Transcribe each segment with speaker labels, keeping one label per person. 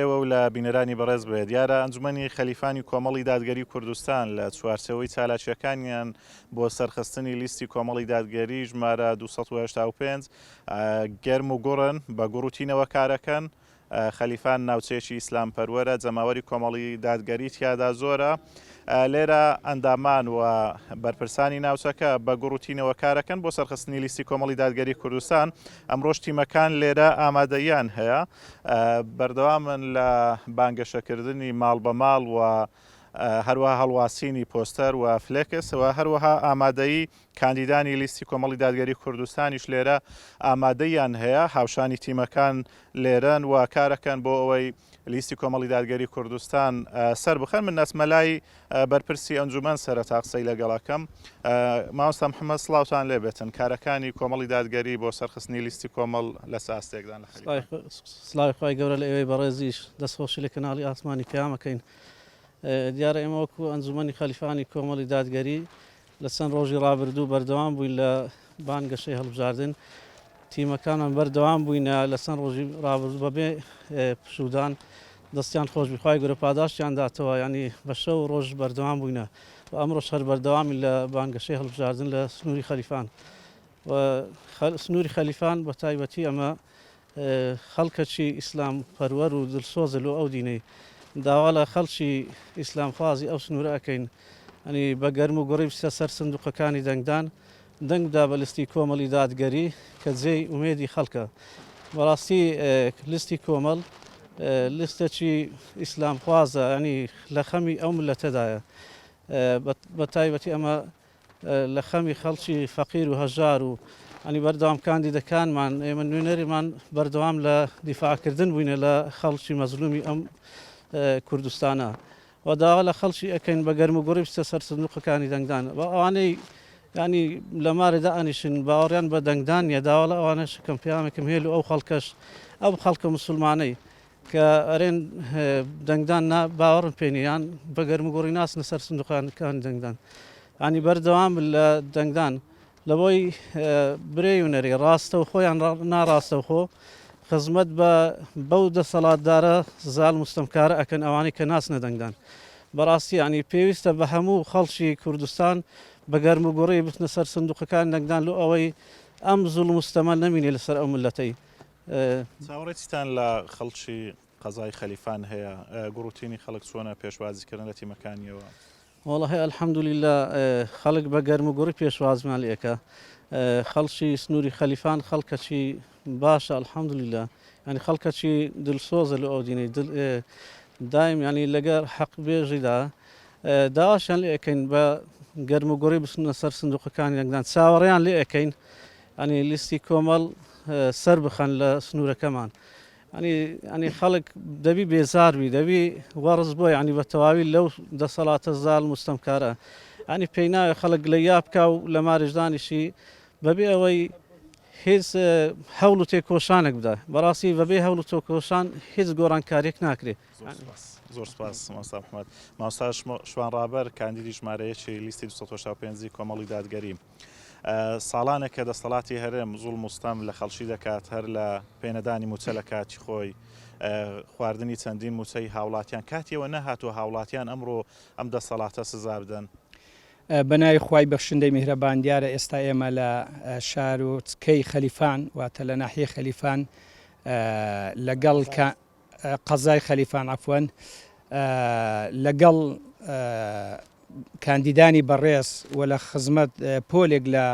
Speaker 1: ئێوە و لە بینەرانی بەڕێز بێت. دیارە ئەنجومەنی خەلیفانی کۆمەڵی دادگەری کوردستان لە چوارچێوەی چالاکییەکانیان بۆ سەرخستنی لیستی کۆمەڵی دادگەری ژمارە دوو سەد و هەشتا و پێنج گەرم و گوڕن، بە گوڕ و تینەوە کارەکەن. خەلیفان ناوچەیەکی ئیسلامپەروەرە، جەماوەری کۆمەڵی دادگەری تیادا زۆرە. لێرە ئەندامان و بەرپرسانی ناوچەکە بە گوڕ و تینەوە کارەکەن بۆ سەرخستنی لیستی کۆمەڵی دادگەری کوردستان. ئەمڕۆش تیمەکان لێرە ئامادەییان هەیە. بەردەوامن لە بانگەشەکردنی ماڵ بە ماڵ و هەروەها هەڵواسینی پۆستەر و فلێکس و هەروەها ئامادەیی کاندیدانی لیستی کۆمەڵی دادگەری کوردستانیش لێرە ئامادەیان هەیە هاوشانی تیمەکان لێرەن و کارەکەن بۆ ئەوەی لیستی کۆمەڵی دادگەری کوردستان سەر بخەن من نەسمەلای بەرپرسی ئەنجومەن سەرەتا قسەی لەگەڵەکەم. مامۆستا محمد سڵاوتان لێبێتن کارەکانی کۆمەڵی دادگەری بۆ سەرخستنی لیستی کۆمەڵ لە چ ئاستێکدان لە خەریکە؟ سڵاوی خوای
Speaker 2: گەورە لە ئێوەی بەڕێزیش دەست خۆشی لە کەناڵی ئاسمانی پەیام ئەکەین دیارە ئێمە وەکو ئەنجومەنی خەلیفانی کۆمەڵی دادگەری لە چەند ڕۆژی ڕابردوو بەردەوام بووین لە بانگەشەی هەڵبژاردن، تیمەکانمان بەردەوام بووینە لە چەند ڕۆژی ڕابردوو بەبێ پشوودان دەستیان خۆش بی خوای گەورە پاداشتیان داتەوە یانی بە شەو ڕۆژ بەردەوام بووینە و ئەمڕۆش هەر بەردەوامین لە بانگەشەی هەڵبژاردن لە سنووری خەلیفان و سنووری خەلیفان بە تایبەتی ئەمە خەڵکەکی ئیسلام پەروەر و دلسۆزە لۆ ئەو دینەی داوا لە خەڵکی ئیسلام خوازی ئەو سنورە ئەکەین ینی بە گەرم و گوڕی بچتە سەر سندوقەکانی دەنگدان دەنگ بدا بە لستی کۆمەڵی دادگەری کە جێی ئومێدی خەڵکە بەڕاستی لستی کۆمەڵ لستەکی ئیسلام خوازە ینی لە خەمی ئەو ملەتەدایە بە تایبەتی ئەمە لە خەمی خەڵکی فەقیر و هەژار و ینی بەردەوام کاندیدەکانمان ئێمە نوێنەریمان بەردەوام لە دیفاعکردن بووینە لە خەڵکی مەزلومی ئەم کوردستانە و داوا لە خەڵکی ئەکەین بە گەرم و گوڕی بچە سەر سندوقەکانی دەنگدان و ئەوانەی ینی لەمارێدا ئەنیشن باوەڕیان بە دەنگدان نیە داوا لە ئەوانەش کەم پیامێکم هێل و ئەو خەڵکەش ئەم خەڵکە مسلمانەی کە ئەرێن دەنگدان نا باوەڕم پێ نیە یان بە گەرموگوڕی ناچنە سەر سندوقانەکانی دەنگدان یانی بەردەوام بن لە دەنگدان لەوەی برێی و نەرێ ڕاستەوخۆیان ناڕاستەوخۆ خزمەت بە بەو دەسەڵاتدارە زال مستەمکارە ئەکەن ئەوانەی کە ناچنە دەنگدان بەڕاستی ینی پێویستە بە هەموو خەڵکی کوردستان بە گەرم و گوڕی بچنە سەر سندوقەکان دەنگدان لۆ ئەوەی ئەم زوڵ مستەمە نەمینێ لەسەر ئەو ملەتەی چاوەڕێی
Speaker 1: چیتان لە خەڵکی قەزای خەلیفان هەیە؟ گوڕ و تینی خەڵک چۆنە پێشوازیکردن لە تیمەکانییەوە؟ وەڵاهی
Speaker 2: الحمدللە خەڵک بە گەرم و گوڕی پێشوازمان لێ ئەکا خەڵکی سنووری خەلیفان خەڵکەکی باشە الحمدللە یانی خەڵکەکی دلسۆزە لە ئەودینەی دل دایم ینی لەگەر حەق بێژیدا داواشیان لێ ئەکەین بە گەرم و گوڕی بچنە سەر سندوقەکانی دەنگدان چاوەڕێیان لێ ئەکەین ئەنی لیستی کۆمەڵ سەر بخەن لە سنوورەکەمان ئەنی ئەنی خەڵک دەبی بێزاربی دەبی وەڕز بۆی عنی بە تەواوی لەو دەسەڵاتە زال مستەمکارە ئەنی پێی ناوێ خەڵک لە یا بکە و لە مارشدانیشی بەبێ ئەوەی هیچ هەوڵ و تێکۆشانێک بدە بەڕاستی بەبێ هەوڵ و تۆکۆشان هیچ گۆڕانکارێک ناکرێ زۆر
Speaker 1: سپاس ماستا محمد ماساش شوان ڕابەر کاندیدی ژمارەیەکی لیستی 1950 کۆمەڵی دادگەری ساڵانێکە دەستەڵاتی هەرێم زوڵم و ستەم لە خەڵکی دەکات، هەر لە پێنەدانی مووچە لە کاتی خۆی، خواردنی چەندین مووچەی هاوڵاتیان کاتی ئەوە نەهاتووە هاوڵاتیان ئەمڕۆ ئەم دەستەڵاتە سزا بدەن. بە ناوی
Speaker 3: خوای بەخشندەی میهرەبان دیارە ئێستا ئێمە لە شارۆچکەی خەلیفان واتە لە ناحیەی خەلیفان لەگەڵ قەزای خەلیفان عەفوەن لەگەڵ کاندیدانی بەڕێز و لە خزمەت پۆلێک لە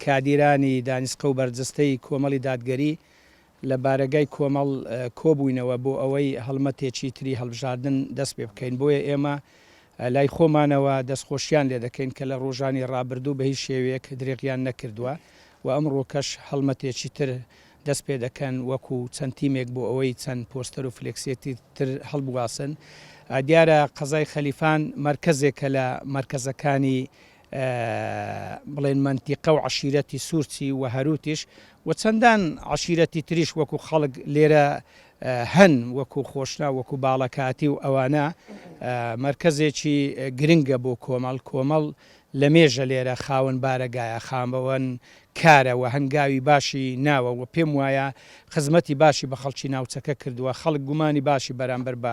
Speaker 3: کادیرانی دانیسقە و بەرجستەی کۆمەڵی دادگەری لە بارەگای کۆمەڵ کۆبووینەوە بۆ ئەوەی هەڵمەتێکی تری هەڵبژاردن دەست پێ بکەین بۆیە ئێمە لای خۆمانەوە دەستخۆشییان لێ دەکەین کە لە ڕۆژانی ڕابردوو بە هیچ شێوەیەک درێغیان نەکردووە و ئەمڕۆکەش هەڵمەتێکی تر دەست پێ دەکەن وەکو چەند تیمێک بۆ ئەوەی چەند پۆستەر و فلێکسێکی تر هەڵبواسن دیارە قەزای خەلیفان مەرکەزێکە لە مەرکەزەکانی بڵێن مەنتیقە و عەشیرەتی سورچی و هەروتیش و چەندان عەشیرەتی تریش وەکو خەڵک لێرە هەن وەکو خۆشنا وەکو باڵەکاتی و ئەوانە مەرکەزێکی گرنگە بۆ کۆمەڵ کۆمەڵ لە مێژە لێرە خاوەن بارەگایە خامەوەن کارە و هەنگاوی باشی ناوە و پێم وایە خزمەتی باشی بە خەڵکی ناوچەکە کردووە خەڵک گومانی باشی بەرامبەر بە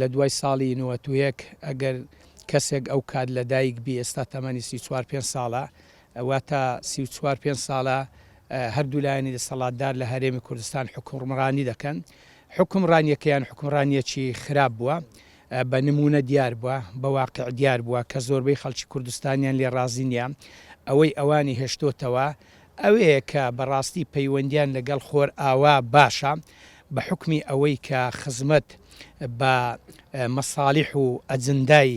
Speaker 3: لە دوای ساڵی نەوەت و یەک ئەگەر کەسێک ئەو کات لە دایک بی ئێستا تەمەنی سی و چوار پێنج ساڵە واتە سی و چوار پێنج ساڵە هەردوو لایەنی دەسەڵاتدار لە هەرێمی کوردستان حکومڕانی دەکەن حکومڕانیەکەیان حکومڕانیەکی خراپ بووە بە نمونە دیار بووە بە واقع دیار بووە کە زۆربەی خەڵکی کوردستانیان لێ ڕازی نیە ئەوەی ئەوانی هێشتۆتەوە ئەوەیە کە بەڕاستی پەیوەندیان لەگەڵ خۆرئاوا باشە، بە حوکمی ئەوەی کە خزمەت بە مەساڵیح و ئەجندای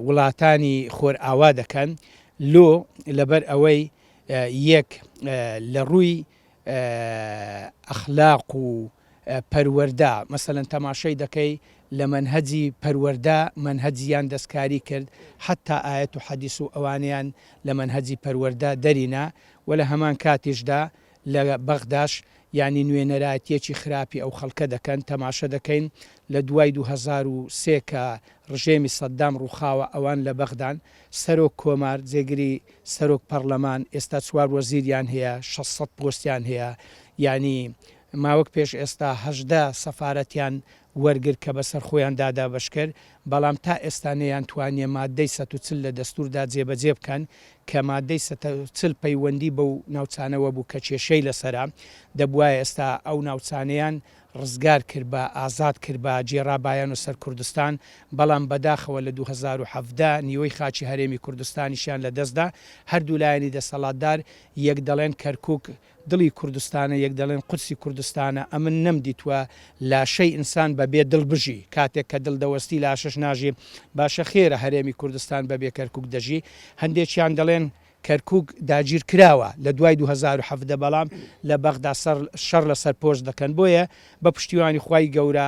Speaker 3: وڵاتانی خۆرئاوا دەکەن، لۆ لەبەر ئەوەی یەک لە ڕووی ئەخلاق و پەروەردە مەسەلەن تەماشای دەکەی لە مەنهەجی پەروەردە مەنهەج یان دەستکاری کرد حەتا ئایەت و حەدیس و ئەوانەیان لە مەنهەجی پەروەردە دەری نا وە لە هەمان کاتیشدا لە بەغداش یانی نوێنەرایەتیەکی خراپی ئەو خەڵکە دەکەن تەماشە دەکەین لە دوای دوو هەزار و سێ کە ڕژێمی سەدام ڕوخاوە ئەوان لە بەغدان سەرۆک کۆمار جێگری سەرۆک پەڕلەمان ئێستا چوار وەزیریان هەیە شەش سەد پۆستیان هەیە یانی ماوەک پێش ئێستا هەژدە سەفارەتیان وەرگرت کە بەسەر خۆیان دا دابەشکرد، بەڵام تا ئێستا نەیانتوانیە ماددەی سەد و چل لە دەستوردا جێبەجێ بکەن کە ماددەی سەد و چل پەیوەندی بەو ناوچانەوە بوو کە کێشەی لەسەرە، دەبوایە ئێستا ئەو ناوچانەیان ڕزگار کربا، ئازاد کربا، گێڕابایانە سەر کوردستان، بەڵام بەداخەوە لە دوو هەزار و حەڤدە نیوەی خاکی هەرێمی کوردستانیشیان لەدەستدا، هەردوو لایەنی دەسەڵاتدار یەک دەڵێن کەرکوک دڵی کوردستانە یەک دەڵێن قودسی کوردستانە ئەمن نەم دیتوە لاشەی ئینسان بە بێ دڵ بژی کاتێک کە دڵ دەوەستی لاشەش ناژی باشە خێرە هەرێمی کوردستان بە بێ کەرکوک دەژی هەندێکیان دەڵێن کەرکوک داگیر کراوە لە دوای دوو هەزار و حەڤدە بەڵام لە بەغدا شەڕ لە سەر پۆست دەکەن بۆیە بە پشتیوانی خوای گەورە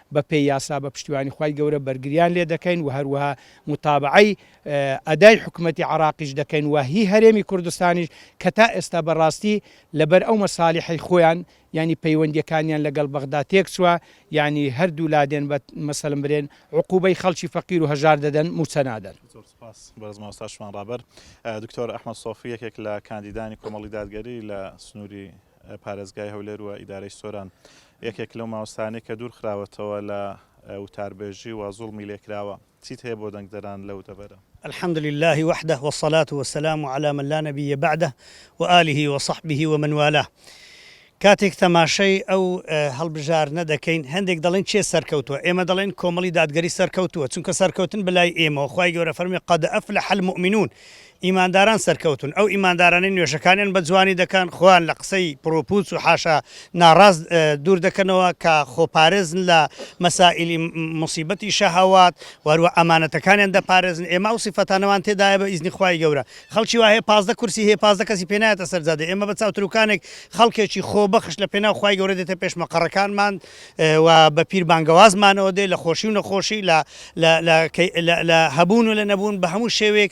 Speaker 3: بە پێی یاسا بە پشتیوانی خوای گەورە بەرگریان لێ دەکەین و هەروەها موتابەعەی ئەدای حکومەتی عەراقیش دەکەین و هی هەرێمی کوردستانیش کە تا ئێستا بە ڕاستی لە بەر ئەو مەسالیحەی خۆیان یانی پەیوەندیەکانیان لە گەڵ بەغدا تێک چوە یانی هەر دوو لا دێن بە مەسەلم برێن عقوبەی خەڵکی فەقیر و هەژار دەدەن موچە نادەن. زۆر سوپاس بەرز مامۆستا
Speaker 1: شوان ڕابەر. دکتۆر ئەحمەد سۆفی یەکێک لە کاندیدانی کۆمەڵی دادگەری لە سنوری پارێزگای هەولێر و ئیدارەی سۆران یەکێک لەو مامۆستایانەی کە دوور خراوەتەوە لە وتاربێژی و زوڵمی لێکراوە، چیت هەیە بۆ دەنگدەران لەو دەڤەرە؟ الحمد للە
Speaker 4: وحدە والصلاة والسلام علی من لا نبی بعدە وآله وصحبه ومن والاه کاتێک تەماشای ئەو هەڵبژارنە دەکەین هەندێک دەڵێن کێ سەرکەوتووە ئێمە دەڵێن کۆمەڵی دادگەری سەرکەوتووە چونکە سەرکەوتن بەلای ئێمەوە خوای گەورە فەرمووی قد افلح المومنون ئیمانداران سەرکەوتوون، ئەو ئیماندارانەی نوێژەکانیان بە جوانی دەکەن، خۆیان لە قسەی پڕوپووچ و حاشا ناڕاست دوور دەکەنەوە، کە خۆپارێزن لە مەسائیلی موسیبەتی شەهەوات، و هەروەها ئەمانەتەکانیان دەپارێزن، ئێمە ئەو سیفەتانەمان تێدایە بە ئیزنی خوای گەورە. خەڵکی وا هەیە پازدە کورسی هەیە، پازدە کەسی پێ نایەتە سەر جادەی، ئێمە بە چاوتروکانێک خەڵکێکی خۆبەخش لە پێناو خوای گەورە دێتە پێش مەقەڕەکانمان و بە پیر بانگەوازمانەوە دێ، لە خۆشی و نەخۆشی، لە هەبوون و لە نەبوون، بە هەموو شێوەیەک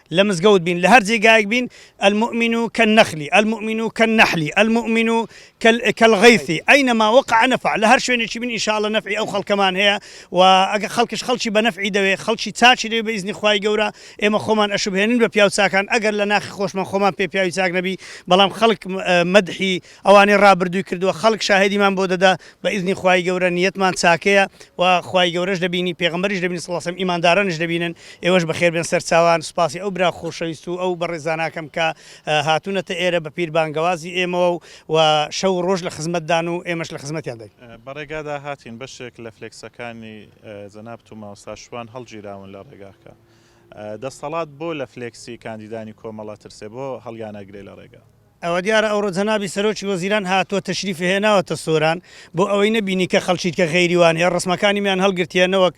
Speaker 4: لە مزگەوت بین لە هەر جێگایەک بین المومن کالنخل المومن کالنحل المومن کالغیث اینما وقع نفع لە هەر شوێنێکی بین ان شاء اللە نەفعی ئەو خەڵکەمان هەیە و ئەگەر خەڵکیش خەڵکی بە نەفعی دەوێت خەڵکی چاکی دەوێت بە ئیزنی خوای گەورە ئێمە خۆمان ئەشوبهێنین بە پیاو چاکان ئەگەر لە ناخی خۆشمان خۆمان پێ پیاوی چاک نەبی بەڵام خەڵک مەدحی ئەوانەی ڕابردووی کردووە خەڵک شاهێدیمان بۆ دەدا بە ئیزنی خوای گەورە نیەتمان چاکەیە و خوای گەورەش دەبینی پێغەمبەریش دەبینی صلی اللە علیە و سلم ئیماندارانیش دەبینن ئێوەش بەخێر بێن سەرچاوان سوپاسی ئەو برا خۆشەویست و ئەو بەڕێزاناکەم کە هاتوونەتە ئێرە بە پیر بانگەوازی ئێمەوە و و شەو و ڕۆژ لە خزمەتدان و ئێمەش لە خزمەتیان دای. بەڕێگادا هاتین
Speaker 1: بەشێک لە فلێکسەکانی جەنابت و مامۆستا شوان هەڵگیراون لە ڕێگاکە دەستەڵات بۆ لە فلێکسی کاندیدانی کۆمەڵە ترسێ بۆ هەڵیانەگرێ لە ڕێگا؟ ئەوەدیارە ئەوڕۆ
Speaker 4: جەنابی سەرۆکی وەزیران هاتوە تەشریفی هێناوەتە سۆران بۆ ئەوەی نەبینی کە خەڵکیت کە غەیری وان هەیە ڕسمەکانیمیان هەڵگرتیە نەوەک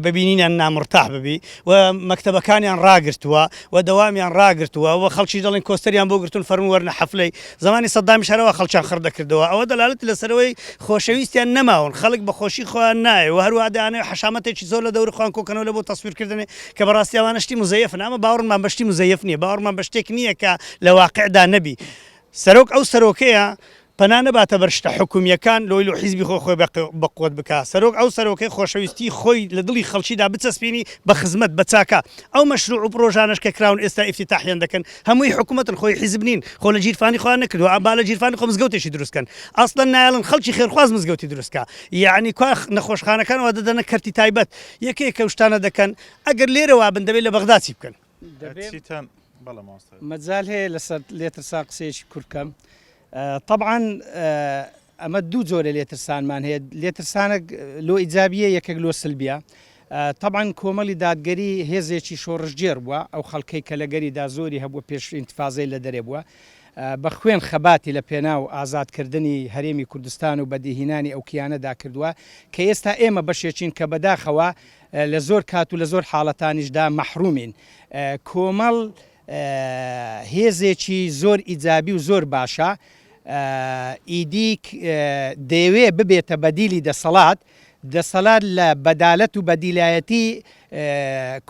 Speaker 4: بە بینینیان نامرتاح ببی و مەکتەبەکانیان ڕاگرتوە و دەوامیان ڕاگرتوە و خەڵکیش دەڵێن کۆستەریان بۆ گرتون فەرموو وەرنە حەفلەی زەمانی سەدامیش هەرەوا خەڵکیان خڕ دەکردەوە ئەوە دەلالەتی لەسەرەوەی خۆشەویستیان نەماون خەڵک بە خۆشی خۆیان نایە و هەروا دەیانەوێ حەشامەتێکی زۆر لە دەوری خۆیان کۆکەنەوە لە بۆ تەسویرکردنێ کە بەڕاستی ئەوانە شتی موزەیەفن ئەمە باوەڕمان بە شتی موزەیەف نیە باوەڕمان بە شتێک نیە کە لە واقیعدا نەبی سەرۆک ئەو سەرۆکەیە پەنا نەباتە بەر شتە حکومیەکان لۆی لۆ حیزبی خۆی خۆی بە قوت بکا سەرۆک ئەو سەرۆکەی خۆشەویستی خۆی لە دڵی خەڵکیدا بچەسپینی بە خزمەت بە چاکە ئەو مەشروع و پرۆژانەش کە کراون ئێستا ئیفتیتاحیان دەکەن هەمووی حکومەتن خۆی حیزب نین خۆ لە جیرفانی خۆیان نەکردوە با لە جیرفانی خۆ مزگەوتێکی دروست کەن ئەسڵەن نایەڵن خەڵکی خێرخواز مزگەوتی دروست کا یەعنی کوا نەخۆشخانەکان وا دەدەنە کەرتی تایبەت یەکێکە و شتانە دەکەن ئەگەر لێرەوا بن دەبێت لە بەغدا چی بکەن چیتان بەڵێ مامۆستا.
Speaker 3: مەجال هەیە لەسەر لێترسان قسەیەکی کورت کەم طبعاً ئەمە دوو جۆرە لێترسانمان هەیە لێترسانە لۆ ئیجابیە یەکێک لۆ سلبیە طبعاً کۆمەڵی دادگەری هێزێکی شۆڕشگێر بووە ئەو خەڵکەی کە لە گەریدا زۆری هەبووە پێش ئینتفازەی لە دەرێ بووە بە خوێن خەباتی لە پێناو ئازادکردنی هەرێمی کوردستان و بەدیهینانی ئەو کیانەدا کردووە کە ئێستا ئێمە بەشێکین کە بەداخەوە لە زۆر کات و لە زۆر حاڵەتانیشدا مەحرومین. کۆمەڵ هێزێکی زۆر ئیجابی و زۆر باشە، ئیدی دەیەوێت ببێتە بەدیلی دەسەڵات، دەسەلات لە بەدالەت و بەدیلایەتی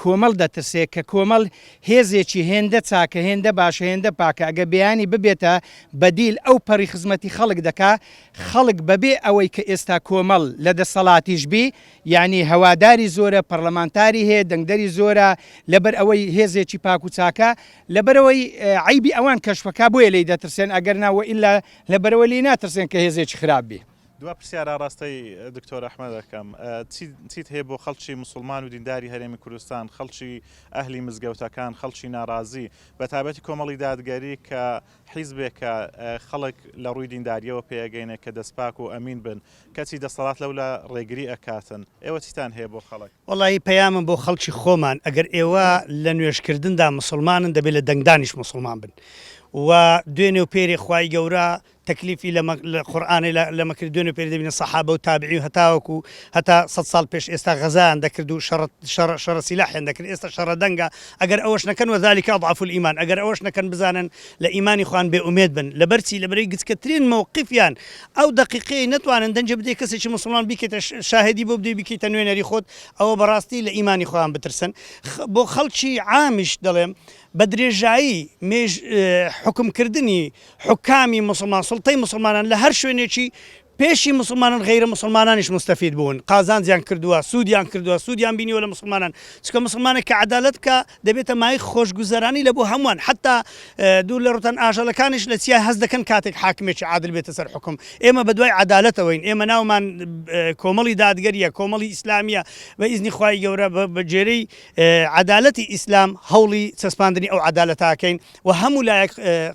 Speaker 3: کۆمەڵ دەترسێت، کە کۆمەڵ هێزێکی هێندە چاکە، هێندە باشە، هێندە پاکە، ئەگەر بیانی ببێتە بەدیل ئەو پەڕی خزمەتی خەڵک دەکات، خەڵک بەبێ ئەوەی کە ئێستا کۆمەڵ لە دەسەڵاتیش بی، یەعنی هەواداری زۆرە، پەڕلەمانتاری هەیە، دەنگدەری زۆرە، لەبەر ئەوەی هێزێکی پاک و چاکە، لەبەرئەوەی عەیبی ئەوان کەشف ئەکا بۆیە لێی دەترسێن، ئەگەرنا وەئیلا لەبەرئەوە لێی ناترسێن کە هێزێکی خراپ بێ. دوا پرسیار ئاڕاستەی
Speaker 1: دکتۆر ئەحمەد ئەکەم، چیت هەیە بۆ خەڵکی موسڵمان و دینداری هەرێمی کوردستان، خەڵکی ئەهلی مزگەوتەکان، خەڵکی ناڕازی، بەتایبەتی کۆمەڵی دادگەری کە حیزبێک کە خەڵک لە ڕووی دینداریەوە پێ ئەگەینێ کە دەست پاک و ئەمین بن کەچی دەستەڵات لەولا ڕێگری ئەکاتن ئێوە چیتان هەیە بۆ خەڵک؟ وەڵایی پەیامم بۆ
Speaker 4: خەڵکی خۆمان ئەگەر ئێوە لە نوێژ کردندا موسڵمانن دەبێ لە دەنگدانیش موسڵمان بن و دوێنێ و پێرێ خوای گەورە تەکلیفی لە قورآانێ لەمە کرد دوێنێ پێ دەبینە سەحابە و تابعی و هەتاوەکو هەتا سە ساڵ پێش ئێستا غەزان دەکرد و شەڕ شەڕ شەڕ سیلاحێن دەکرد ئێستا شەڕە دەنگە ئەگەر ئەوەش نەکەن وذلک اضعف الایمان ئەگەر ئەوەش نەکەن بزانن لە ئیمانی خۆیان بێ ئومێد بن لەبەر چی لەبەرەی گچکەترین مەوقفیان ئەو دەقیقەی نەتوانن دەنگێ بدەی کەسێکی موسڵمان بیکەیتە شاهێدی بۆ بدەی بیکەیتە نوێنەری خۆت ئەوە بەڕاستی لە ئیمانی خۆیان بترسن بۆ خەڵکی عامیش دەڵێم بە درێژایی مێژ حوکم کردنی حوکامی موسڵمان سوڵتەی موسڵمانان لە هەر شوێنێکی پێشی موسڵمانان غەیرە موسڵمانانیش موستەفید بوون قازانجیان کردووە سوودیان کردووە سوودیان بینیوە لە موسڵمانان چونکە موسڵمانێک کە عەدالەت بکا دەبێتە مایەی خۆشگوزەرانی لە بۆ هەمووان حەتتا دوور لە ڕووتان ئاژەڵەکانیش لە چیا هەست دەکەن کاتێک حاکمێکی عادل بێتە سەر حوکم ئێمە بە دوای عەدالەتەوەین ئێمە ناومان کۆمەڵی دادگەریە کۆمەڵی ئیسلامیە بە ئیزنی خوای گەورە بە جێرەی عەدالەتی ئیسلام هەوڵی چەسپاندنی ئەو عەدالەتاکەین وە هەموو لایەک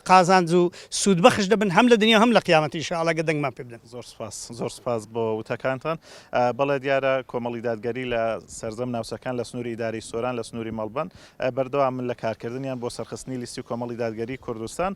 Speaker 4: قازانج و سوود بەخش دەبن هەم لە دنیا و هەم لە قیامەت ان شاءاللە گەر دەنگمان پێ بدەن. زۆر سوپاس زۆر سوپاس
Speaker 1: بۆ وتەکانتان بەڵێ دیارە کۆمەڵی دادگەری لە سەرجەم ناوچەکان لە سنوری ئیدارەی سۆران لە سنوری مەڵبەند بەردەوامن لە کارکردنیان بۆ سەرخستنی لیستی کۆمەڵی دادگەری کوردستان.